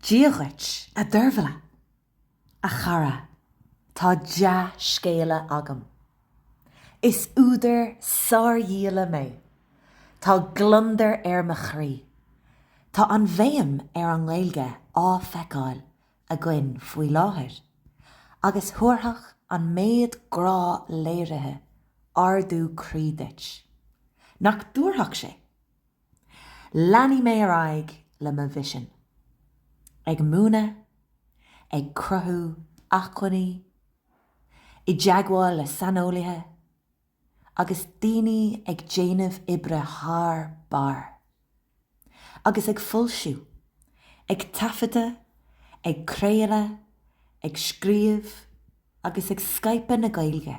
Dia dhuit, a Deirbhile! A chara, tá dea-scéala agam. Is údar sárdhíola mé. Tá gliondar ar mo chroí. Tá an bhéim ar an nGaeilge á feiceáil againn faoi láthair, agus thabharfadh an méid grá léirithe ardú croí duit. Nach dtabharfadh sé? Leanfaidh mé ar aghaidh le mo mhisean, ag múineadh, ag cruthú acmhainní, i dteagmháil le saineolaithe, agus daoine ag déanamh oibre thar barr, agus ag foilsiú, ag taifeadadh, ag craoladh, ag scríobh agus ag scaipeadh na Gaeilge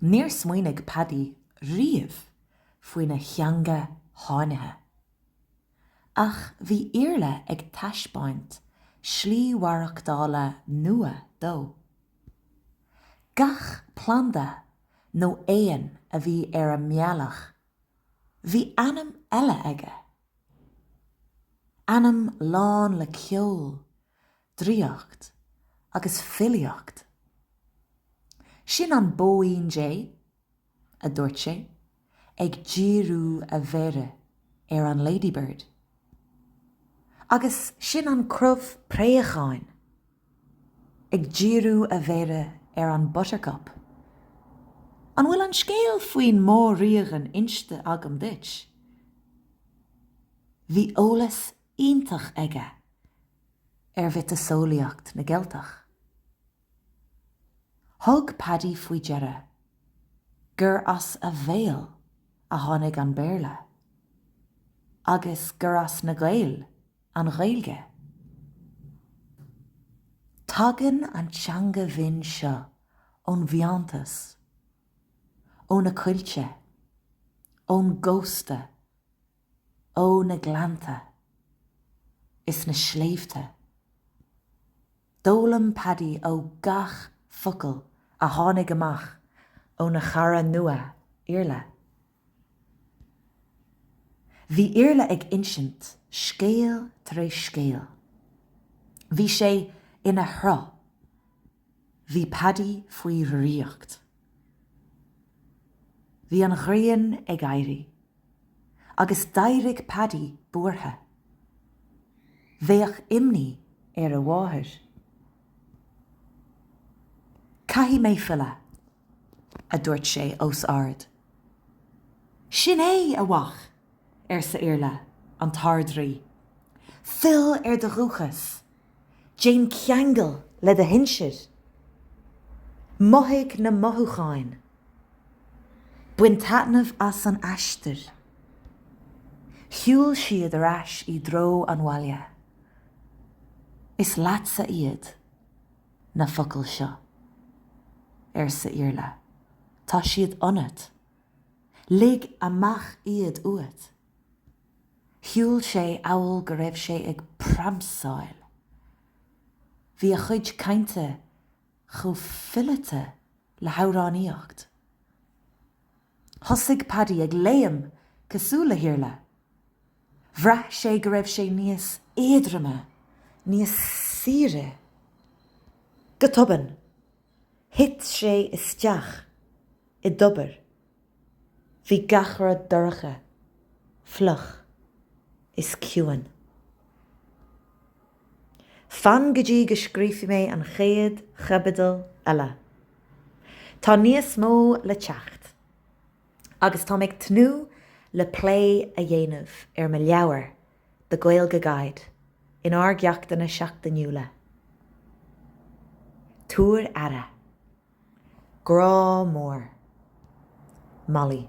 Níor smaoinigh Paddy riamh faoina theanga sháinnithe. Ach bhí Iarla ag taispeáint slí mhaireachtála nua dó. Gach planda nó éan a bhí ar a mbealach, bhí ainm eile aige. Ainm lán le ceol, draíocht agus filíocht. Sin an Bóín Dé, a dúirt sé, ag díriú a mhéire ar an Ladybird. Agus sin an Crobh Préacháin, ag díriú a mhéire ar an Buttercup. An bhfuil an scéal faoin Mór-Ríoghain inste agam duit? Bhí eolas iontach aige ar mhiotaseolaíocht na gCeilteach. Thug Paddy faoi deara gur as a bhéal a tháinig an Béarla agus gur as na Gaeil an Ghaeilge. Tagann an teanga bhinn seo ón bhfiántas, ó na coillte, ón gcósta ó na gleannta is na sléibhte. D'fhoghlaim Paddy ó gach focal a tháinig amach óna chara nua, Iarla. Bhí Iarla ag insint scéal tar éis scéal. Bhí sé ina shruth. Bhí Paddy faoi dhraíocht. Bhí an ghrian ag éirí agus d'éirigh Paddy buartha. Bheadh imní ar a mháthair. Caithfidh mé filleadh, a dúirt sé os ard. Sin é, a mhic, arsa Iarla an tArd-Rí, fill ar do dhúchas, déan ceangal le do shinsir, mothaigh na mothúcháin, bain taitneamh as an aistear. Shiúil siad ar ais i dtreo an bhaile. Is leatsa iad. na focail seo, arsa Iarla. Tá siad ionat. Lig amach iad uait. Shiúil sé amhail go raibh sé ag pramsáil. Bhí a chuid cainte chomh fileata le hamhránaíocht. Thosaigh Paddy ag léim cosúil le hIarla. Bhraith sé go raibh sé níos éadroime, níos saoire. Go tobann, thit sé isteach i dtobar. Bhí gach rud dorcha, fliuch is ciúin. Fan go dtí go scríofaidh mé an chéad chaibidil eile. Tá níos mó le teacht. Agus tá mé ag tnúth le plé a dhéanamh ar mo leabhar, The Gaeilge Guide, in ár gceachtanna seachtainiúla. Tabhair aire. Grá mór. Molly.